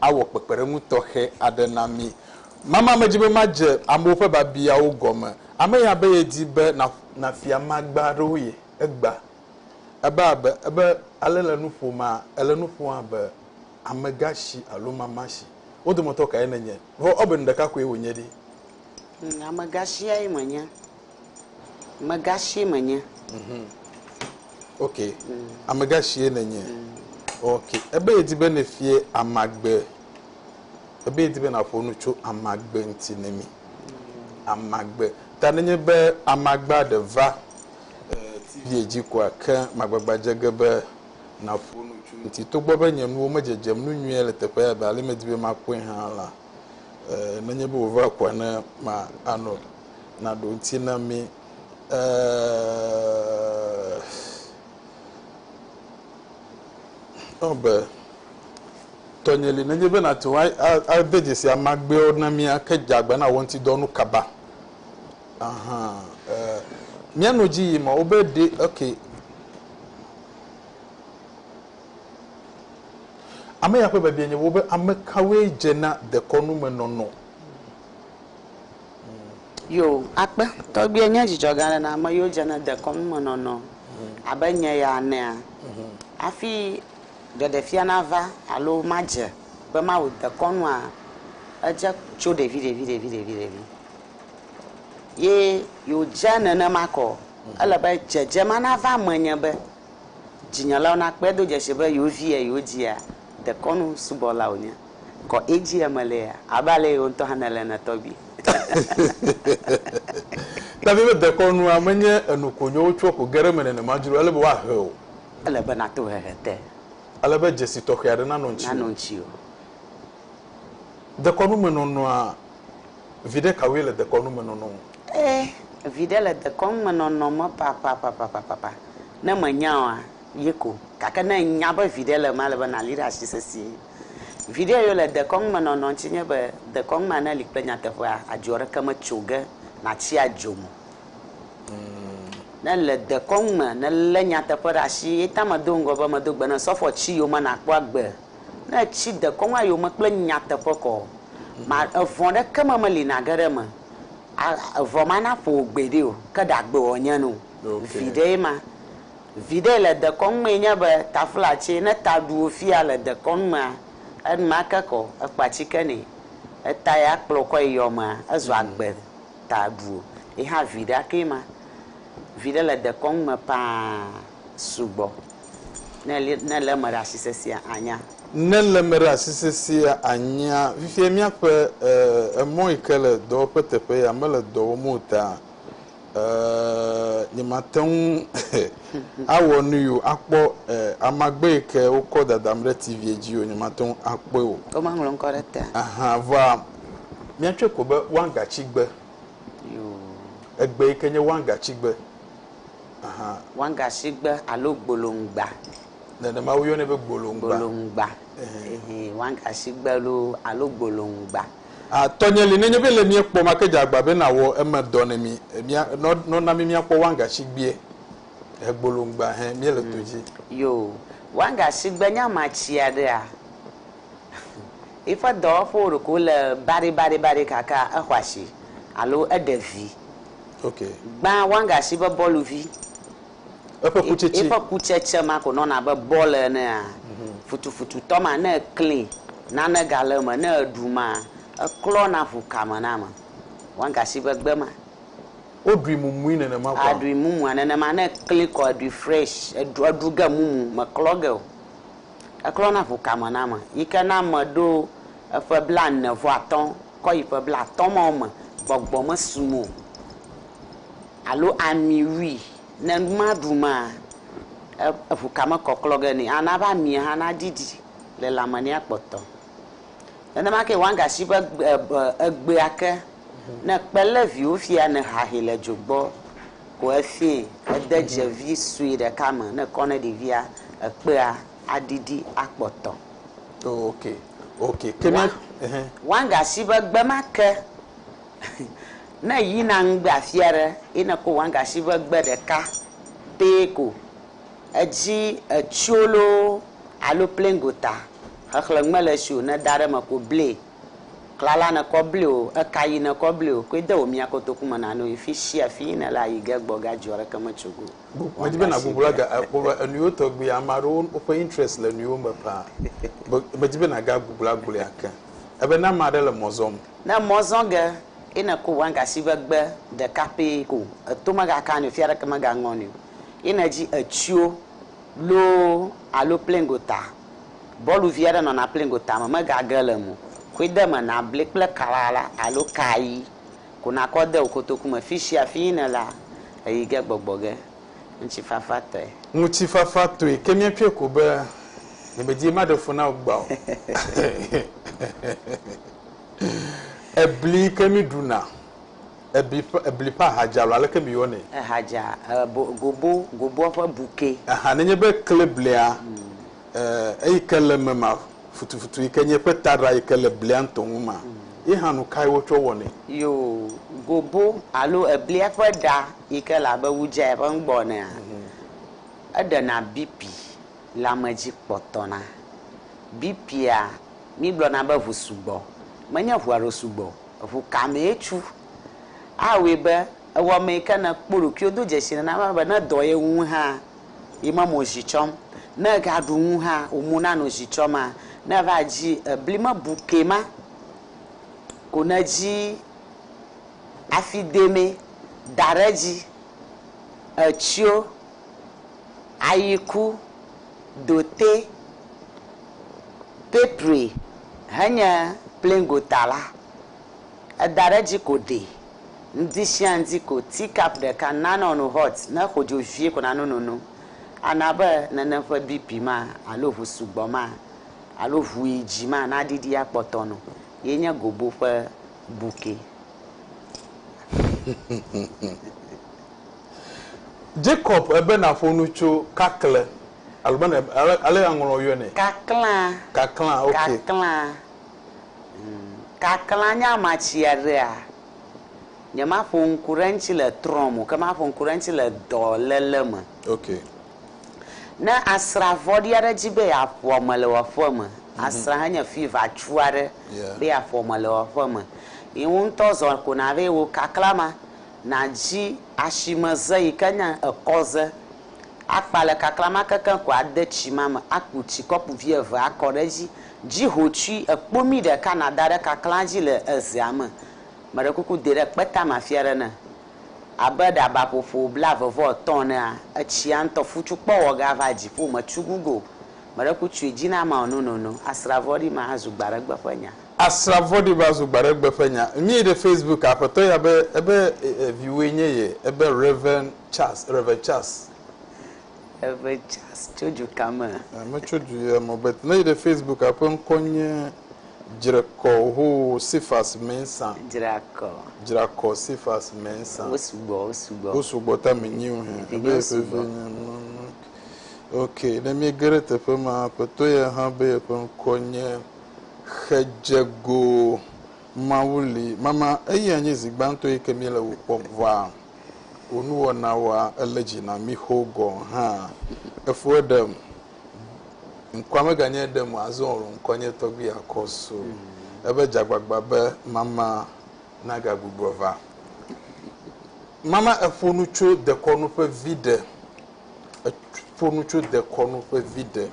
awɔ kpekpeɖeŋu tɔxɛ aɖe na mí. Mama medzi be madze amewo ƒe biabiawo gɔme. Ame ya be yedi be nàfia magba aɖewo ye. Egbea ebe abe ebe ale le nu ƒomea, èle nu ƒom abe amegashi alo mamashi. Wo dometɔ kae nènye? Vɔ ebe nu ɖeka koe wònye ɖi.
Amegashiae menye. Megashi menye. Mhm. Ok.
Mm. Amegashie nènye. Mm. Ok. Ebe yedi be nefie amagbe. Ebe yedi be naƒo nu tso amagbe ŋuti ne mi. Mm. Amagbe. Ta nenye be amagba ɖe va eh, TV dzi koa ke magbagba dze ge be naƒo nu tso ŋuti. Togbɔ be nye nuwo medzedzem nu nyuie le teƒe ya be ale medi be makpɔe hã la, eh, nenye be wòva koa ne ma anɔ naɖo ŋuti na mí ee be tɔnye li nenye be nàte ŋu ade dzesi amagbewo na mí ake dze agbe na wò ŋuti dɔ nu kaba. Aha, ee, míanɔ dzi yim o be ɖe, ok. Ame ya ƒe biabia nye wo be, ame kawoe dze na dekɔnumenɔnɔ?
Yo, akpe. Tɔgbuiɛ nye dzidzɔ gã ɖe na ame yiwo dze ne dekɔnu me nɔnɔ abe nye ya enea? Hafi ɖeɖefia nava alo madze be mawu dekɔnua, edze tso ɖeviɖeviɖeviɖevi. Ye yo, dze nenema kɔ o. Ele be dzedze ma nava menye be dzinyelawo nakpɔe do dzesi be yo viɛ, yo dzia, dekɔnu subɔla wònye. Kɔ edzi eme le ya. Abe ale wò ŋutɔ hã nèle ene tɔgbi.
Davi be dekɔnua menye enu konyo wotsɔ ko ge ɖe eme nenema dzro ele be woahe o. Ele be nàto
hehe te. Ele be dzesi
tɔxɛ aɖe nanɔ ŋutiwò. Nanɔ ŋutiwò. Dekɔnumenɔnɔa, viɖe kawoe le dekɔnumenɔnɔ ŋu? Ee,
viɖe le dekɔnumenɔnɔ me papapapapapa. Ne mènya oa, yi ko. Gake ne ènya be viɖe le emea, ele be nàli ɖe asi sesĩe. Viɖe yio le dekɔnu me nɔnɔ ŋtsi nye be dekɔnu ma ne li kple nyateƒea adzo ɖeke me tso ge natsi adzo mo. Ne le dekɔnu me ne le nyateƒe ɖe ashi ye ta me do ŋgɔ be me do gbe ne sɔfɔ tsi yio me na kpɔ agbe. Ne etsi dekɔnua yio me kple nyateƒe kɔ ma evɔn ɖeke me me li na ge ɖe me a evɔn ma na ƒo wò gbe ɖe o ke ɖa gbe wɔ nye no. Viɖe ye ma. Viɖe le dekɔnu mee nye be taflatse ne ta ɖu wò fia le dekɔnu mea, enumake kɔ ekpa tsike nɛ, eta ya kplɔ kɔe yɔ mea, ezɔ agbe ta ɖu wò. Yi hã viɖea kee ma. Viɖe le dekɔnu me paa sugbɔ. Ne li, ne le eme ɖe asi sesea anya. Ne le eme ɖe
asi sesea anya. Fifia míaƒe e, emɔ yi ke le dɔwɔƒe teƒe ya mele dɔ wɔm o taa, Eeee nyemate ŋu awɔ nui o akpɔ amagbe yi ke wokɔ dadam ɖe TV dzi o, nyemate ŋu akpɔe o. Womaŋlɔ ŋkɔ ɖe etea?
Ahan, vɔa
míatsɔe ko be wangatsigbe. Yoo.
Egbe yi
ke nye wangatsigbe. Ahan. Wangatsigbe
alo gbolongba. Nenema
woyɔnɛ be gbolongba. Gbolongba. Ehɛn. Ehɛn,
wangatsigbe loo alo gbolongba. A Tɔnye li
nenye be le mie kpɔ make dze agba be na wɔ eme dɔ ne mi e mia nɔ nɔ na mi mia kpɔ wanga shi gbie he gbolo ŋgba he mie le to dji. Yo
wanga shi gbe nya ma tsia ɖe a yi ƒe dɔwɔƒewo ɖeko le baɖi baɖi baɖi kaka e xɔ ashi alo e ɖe vi. Ok.
Gbã wanga
shi be bɔluvi. Eƒe kutsetse. Eƒe kutsetse ma ko nɔna abe bɔl enea? Futufututɔ ma, ne eklẽe, nane gale eme, ne eɖu ma, eklɔna ŋu kame na ame. Wagasi ƒe gbe ma. Woɖui
mumui nenema koa? Aɖui mumua nenema.
Ne eklẽe kɔ, eɖui fresh, eɖu, eɖu ge mumu, meklɔ ge o. Eklɔna ŋu kame na ame. Yi ke ne ame ɖo eƒe blaene vɔ atɔ̃ Kɔ yi ƒe blaatɔ̃ mawo me gbɔgbɔ mesu mo alo ami wui ne numaɖumaa, eŋu ka mekɔklɔ ge nɛ, ana eƒe amia hã naɖiɖi le lãme nɛ akpɔtɔ. Nenema kee wangashi ƒe egbea ke, ne ekpe lé viwo fia ne hahe le dzo gbɔ ko efiae, ede dze vi sue ɖeka me ne ekɔ ne ɖevia, ekpea aɖiɖi akpɔtɔ. Oh, ok,
ok. Ke ne, ehe. Wanga
si be gbe ma ke, ne yina ŋgbe afi aɖe ye ne ko wanga si be gbe ɖeka pee ko edzi etsyo loo alo plɛŋgota xexlẽ mele si o, ne da ɖe eme ko ble klala ne kɔ ble o, eka yi ne kɔ ble o, koe de wò mia kotoku me na no yi fi sia fi yi ne le ayi ge gbɔ ga dzi ɔ ɖeke me tso go o. Gugua Medi be na Google
aga eh, kpɔ be enuiwo tɔgbi ame aɖewo woƒe interest le enuiwo me paa. Be- Medi be na ga Google agblɔe ake. Ebe ne ame aɖe le mɔ zɔm. Ne mɔ zɔ ge
ye ne ko wanga si be gbe ɖeka pɛ ko eto mega ka ni o, fi aɖeke mega ŋɔ ni o. Ye ne dzi etsio loo alo plein gota, bɔlu vi aɖe nɔna plein gota me mega ge le mo. Koe de me na bli kple kalala alo kayi ko na kɔ de wo kotoku me. Fi sia fi yi ne la, Ɣeyiɣi ge gbɔgbɔ ge. Ŋutifafa tɔe. Ŋutifafa
tɔe ke míatsɔe ko be nyemedie maɖe fu na wò gbea o. Ebli ke míɖuna, ebli ƒe, ebli ƒe aha dza alo aleke miyɔnɛ? Eha dza,
gobo,
goboa ƒe
bukɛ.
Ahan, nenye be ekle
blia.
eh, eyi
ke le eme
ma futufutu yi ke nye eƒe taɖa yi ke le blia ŋutɔ ŋu ma ye hã nu kae wotsɔ wɔnɛ? Yoo,
gobo alo eblia ƒe ɖa yi ke le abe wudzae ƒe nugbɔ enea, eɖena bipi le ame dzi kpɔtɔna. Bipia, mígblɔna be ŋu sugbɔ, menye ŋu alo sugbɔ o, ŋu ka mee tsu. Awɔe be ewɔmee yi ke nèkpɔ ɖokuiwò do dzesi nenema be ne dɔ ye wum hã, Yi me mo zi tsɔm. Ne ega ɖu nu hã wo mo na no zi tsɔm a ne eva dzi ebli me bu ke ma ko ne dzi afi de me da ɖe dzi etsio ayi ku dote pepri henye plingo ta la. Eda ɖe edzi ko ɖe. Ŋdi shia ŋdi ko tea cup ɖeka nano no hot ne xɔ dzo vie ko nano nono. Ana be nene ƒe BP ma alo ŋu sugbɔ ma alo ŋu yi dzi ma na ɖiɖi akpɔtɔ no. Ye nye gobo ƒe buke.
Jacob ebe na ƒo nu tso kakle alo be na, ale aŋlɔ yɔe nɛ. Kaklã. Kaklã, ok. Kaklã.
Kaklã nye ama tsi aɖea? Nyemaƒo ŋku ɖe eŋuti le trɔ me o, ke maƒo ŋku ɖe eŋuti le dɔléle me. Okay. Ne asrã vɔ̃ɖi aɖe di be yeaƒo ame le wò aƒe me, asrã he nye fivatsu aɖe Yeah. be yeaƒo ame le wò aƒe me, ye wò ŋutɔ zɔ ko nàva yi wò kaklã ma nàdzi asimeze yike nye ekɔze. Akpa le kakla ma kekeŋ ko ade tsi ma me, aku tsi kɔpu vi eve akɔ ɖe edzi. Dzi ho tsui ekpomi ɖeka nàda ɖe kaklaa dzi le ezea me. Meɖe kuku dɛ ɖe kpe tame afi aɖe ne. Abe ɖabaƒoƒo blaeve-vɔ-etɔ̃ enea, etsia ŋutɔ fu tso kpɔ wɔ ge ava dziƒo me tsu gu go. Meɖe ku tsui dzi na ameawo nonono. Asra vɔ̃ɖi ma azu gbaɖegbe ƒe nya. Asra vɔ̃ɖi ma
zu gbaɖegbe ƒe nya. Ŋmie ɖe Facebook, Aƒetɔ ya be ebe viwòe nye ye, ebe Rev. Charles, Rev. Charles. Rev.
Charles tso du ka me? Eh, metso du ya
me o, but ne yi ɖe Facebook eƒe ŋkɔ nye Dzrekɔ hoo Cephas Mensah. Dzrakɔ. Dzrakɔ Cephas Mensah. Wo sugbɔ, wo sugbɔ. Wo sugbɔ ta me nyi o hɛn. Ebe Vinyewo yeƒe vi sugbɔ. nye nu. Ok, ne míege ɖe teƒe ma, aƒetɔ ya hã be yeƒe ŋkɔ nye Xedzego Mawu li. Mama, eyae nye zi gbãtɔ yi ke míele wò kpɔm vɔa? wò nuwɔnawoa ele dzi na mí xo gɔ̃ hã. Efo eɖem. Ŋkɔa meganye eɖem o, azɔ wòlɔ̃ ŋkɔnye tɔgbi akɔ so ebe dzagbagba be mama nagagbugbɔ va. Mama eƒo nu tso dekɔnu ƒe viɖe. Eƒo nu tso dekɔnu ƒe viɖe.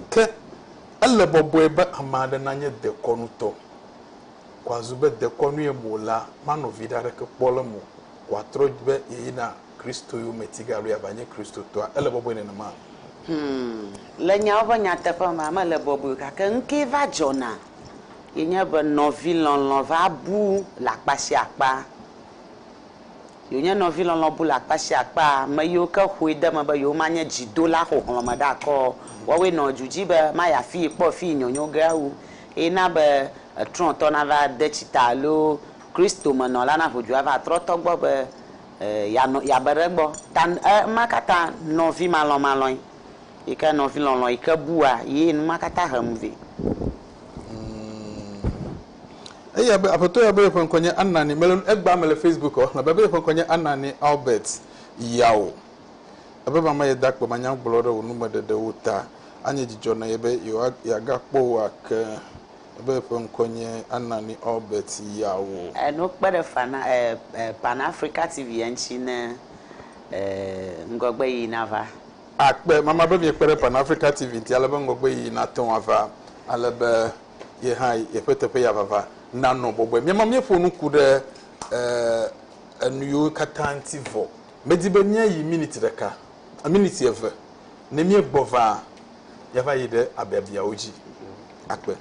Ke ele bɔbɔe be ame aɖe nanye dekɔnutɔ. Wòazu be dekɔnue mo la manɔ viɖe aɖeke kpɔ le eme o. Wòatrɔ be yeyina Kristo yome tige alo yeava nye Kristotɔa. Ele bɔbɔe nenema? Hum.
Le nyawo ƒe nyateƒe mea, mele bɔbɔe o. Gake nukee va dzɔna ye nye be nɔvi lɔlɔ̃ va bu le akpa sia akpa. Ye wònye nɔvi lɔlɔ̃ bu le akpa sia akpa, ame yiwo ke ƒoe de eme be yewomanye dzidola xoxlɔ̃meɖakɔ o, woawoe nɔ du dzi be mayi afii kpɔ fii nyɔnyo ge awu. eye na be etrɔ̃tɔ nava de tsi ta alo Kristomenɔla naho dzoa va trɔ̃tɔ gbɔ be yeanɔ, yeabe ɖe egbɔ. Ta ema katã nɔvimalɔmalɔe yi ke nɔvilɔlɔ̃ yi ke bua ye nu ma katã he nu vɛ. Ŋ.
Eya be, Aƒetɔ ya be yeƒe ŋkɔ nye Anani, mele nu, egbea mele Facebook ɔ, elabe be yeƒe ŋkɔ nye Anani Albert Yaw. Ebe mama ye da akpe manyagblɔ ɖe wò numeɖeɖewo ta, anye dzidzɔ na ye be yeagakpɔ wò ake, ebe eƒe ŋkɔ nye Anani Albert Yawo. Eno kpe ɖe fana
eh Pan Africa TV ya ŋuti ne eh ŋgɔgbe yiyi nava. Akpe mama
be miekpe ɖe Pan Africa TV ŋuti ale be ŋgɔgbe yiyi nate ŋu ava, ale be ye hã yeƒe teƒe ya vava nanɔ bɔbɔe. Míama míeƒo nu ku ɖe eh enuyiwo katã ŋuti vɔ. Medi be míayi miniti ɖeka, miniti eve. Ne míegbɔ vaa, yɛava yi ɖe abiabiawo dzi akpe.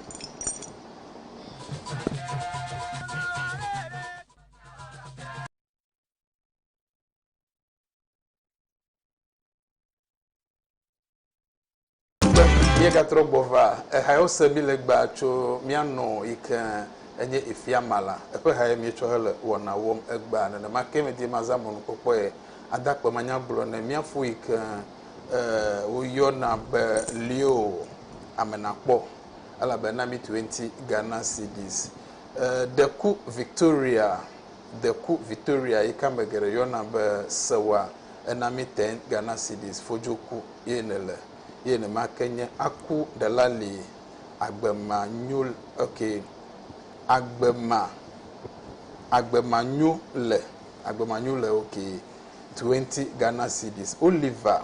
Míegatrɔ gbɔ va, ehae wose mí le gbea tso mía nɔ yi ke enye efia ma la. Eƒe hae míetsɔ hele wɔna wɔm egbea. Nenema ke medie mazã mɔnukpɔkpɔe ada akpe manyagblɔ ne mía ƒu yi ke woyɔna be Leo ame nakpɔ, elabena mitue ŋuti Ghana cedis ɖe ku Victoria Deku Victoria yi ke ame geɖe yɔna be Sewa Enami Teng Ganasidis fodzoku ye nèle ye nemake nye aku ɖela li agbe ma nyo okay agbe ma agbe ma nyo le agbe ma nyo le okay twenty Ganasidis Oliver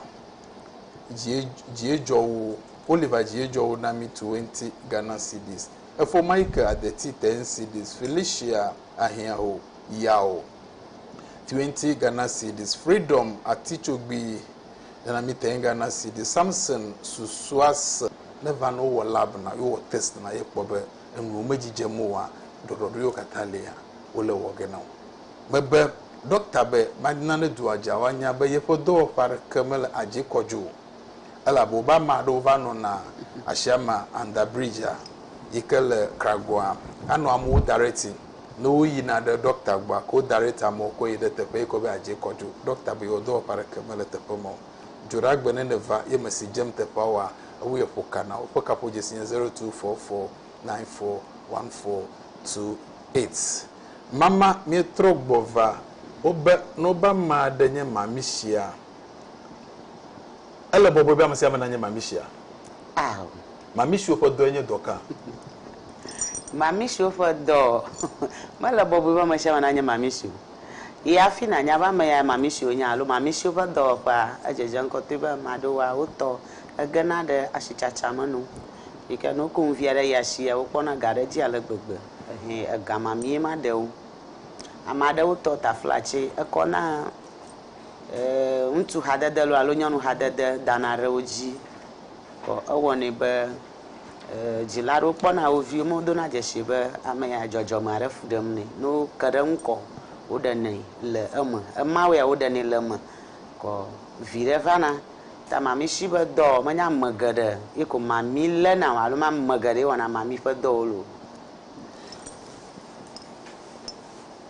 dzie dzie dzɔ wo Oliver dzie dzɔ wo nami twenty Ganasidis efo ma yi ke adeti ten sidis Felicia ahiã o, ya o. Twenty Ghana cedis freedom atitsogbi nana mi ten Ghana cedis Samson susua se ne va ne wowɔ lab na ye wɔ test na ye kpɔ be enuwo me dzidzem oa ɖɔɖɔɖo yewo katã lia wole wɔ ge na wo me be dɔkta be ma na ne dua dza woa nya be yeƒe dɔwɔƒe aɖeke mele adzi kɔdzo o. elabe wobe ame aɖewo va nɔna asiame under bridge-a yike le Kragoa anɔ amewo direct-i ne woyina ɖe doctor gbɔa ke wo direct amewo kɔ yi ɖe teƒe yike wobe yeadze kɔ dzo. Doctor be yewo dɔwɔƒe aɖeke mele teƒe ma o. Dzoɖagbe ne nèva ye mesi dzem teƒea oa, ewu ye ƒo ka na wo. Woƒe kaƒodzesi nye zero two four four nine four one four two eight. Mama, míetrɔ gbɔ va wobe ne wobe ame aɖe nye Mami sia. Ele bɔbɔe be ame sia ame nanye mamisia? Ao. Mamisiwo ƒe dɔe nye dɔ ka? Mamisiwo
ƒe dɔ, Mele bɔbɔe be ame sia ame nanye mamisi o. Yi hafi nànya be ame yae mamisi wònye alo mamisiwo ƒe dɔwɔƒea. Edzedze ŋkɔ toe be ame aɖewoa, wo tɔ egena ɖe asitsatsa me no. Yi ke ne woko nu vi aɖe yi asia, wokpɔna ga ɖe edzi ale gbegbe. Ɛhɛ ega mamie ma ɖewo. Ame aɖewo tɔ taflatse ekɔna. ŋutsu hadede lɔ alo nyɔnu hadede dana ɖe wo dzi kɔ ewɔnɛ be dzila aɖewo kpɔna wo viwo me wodona dzesi be ame ya dzɔdzɔme aɖe fu ɖem nɛ. Ne woke ɖe eŋu kɔ woɖenɛ le eme. Ema wɔea woɖenɛ le eme kɔ viɖe vana. Ta mamishi be dɔ menye ame geɖe ye ko mami léna o alo menye ame geɖe ye wɔna mami ƒe dɔwo le o.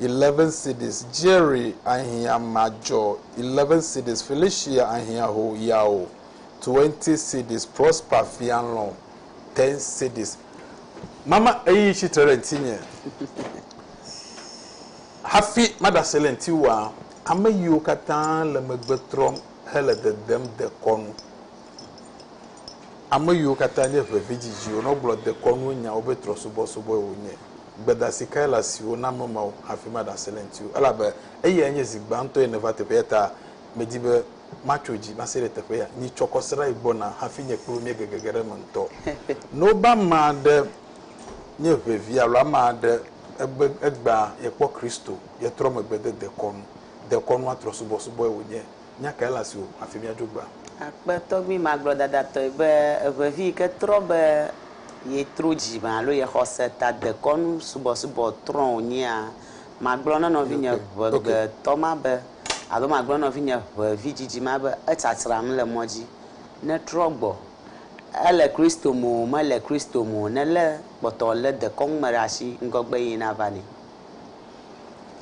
11 cities Jerry ahiã madzɔ 11 cities Felicia ahiã ho yao 20 cities Prosper fia lɔ 10 cities Mama eyi tsi tre ɖe ŋtinye hafi maɖe asi le ŋtiwòa, ame yiwo katã le megbe trɔm hele dedem dekɔnu. Ame yiwo katã nye ʋevidzidziwo nɔ gblɔ dekɔnuwo nyawo be trɔ̃subɔsubɔe wònye. Gbedasi kae le asiwò na ame mawo hafi maɖe asi le ŋutiwò? Elabe eyae nye zi gbãtɔe nèva teƒe, eya ta medi be matso dzi mase ɖe teƒe ya. Nyi tsɔ kɔsiɖa yi gbɔna hafi nye kple wò míege gege ɖe eme ŋutɔ. Ne wobe ame aɖe nye ʋevi alo ame aɖe egbe egbea, yekpɔ Kristo, yetrɔ megbe de dekɔnu. Dekɔnua trɔ̃subɔsubɔe wònye. Nya kae le asiwò hafi míadzo egbea? Akpe tɔgbi
magblɔdadatɔe be eŋevi yi ke trɔ be ye tro dzi me alo ye xɔse ta dekɔnu subɔsubɔ trɔ wònyea? Magblɔ na nɔvinye ŋegbetɔ ma be, alo magblɔ na nɔvinye ŋevi dzidzi ma be etsatsram le mɔ dzi ne trɔ gbɔ. Ele Kristo me o, mele Kristo me o, nelé kpɔtɔ lé dekɔnu me ɖe asi ŋgɔgbe yee nava nɛ.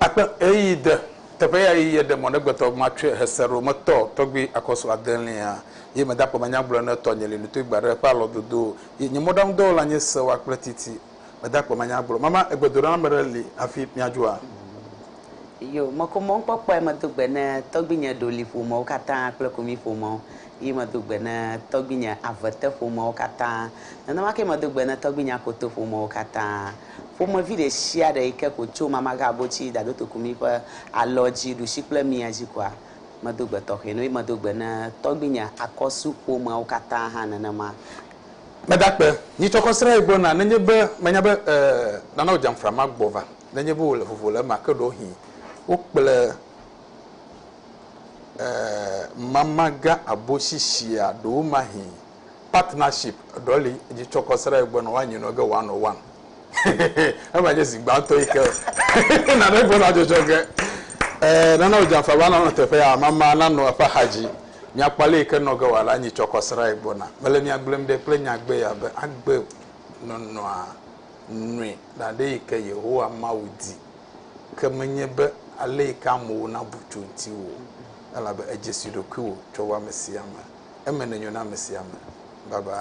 Akpe ɣeyiɣi de teƒe ya yi ye ɖe mɔ negbetɔ matsɔe hese ɖo metɔ tɔgbi akɔsu adelia ye meda kpɔ menya gblɔ ne tɔ nye li nutoi gba ɖe ƒe alɔ dodo yi nye mɔɖaŋu dɔwɔla nye sewa kple titi meda kpɔ menya gblɔ mama egbedoɖa na meɖe li hafi miadzoa.
Yo meko mɔ ŋkpɔkpɔe medo gbe ne tɔgbi nye ɖo li ƒomewo katã kple komi ƒomewo yi medo gbe ne tɔgbi nye avete ƒomewo katã nenema ke medo gbe ne tɔgbi nye akoto ƒomewo katã Ƒomevi ɖe sia ɖe yi ke ko tso Mamaghabotsi, Dadotokumi ƒe alɔ dzi, ɖusi kple mia dzi koa, medo gbe tɔxɛ na wo. Eye medo gbe na tɔgbuinye Akɔsu ƒomeawo katã hã nenema. Meda akpe
nyuitɔ kɔ srã ye gbɔ na, nenye be menya be e nana wò djamfra ma gbɔ va, nenye be wòle vovo le ema, ke ɖewohĩ wo kple e Mamaghabotsi sia ɖowomahĩ. partnership ɖɔ li dzi tsɔ kɔ sra egbe nɔ wa nyi nɔ ge wa nɔ wan ema nye zi gbãtɔ yi ke na ne gbe na dzɔdzɔ ge eh nana o jamfa ba nɔ teƒe ya mama na nɔ eƒe axa dzi mia kpa le yi ke nɔ ge wa la nyi tsɔ kɔ sra egbe na mele mia gblem ɖe kple nya gbe ya be agbe nɔnɔa nui na ɖe yi ke yehowa mawu di ke menye be ale yi ke amewo na bu tso ŋti wo elabe èdze si ɖokuiwò tsɔ wɔ ame sia ame. Eme nenyo na ame sia ame. Bye bye.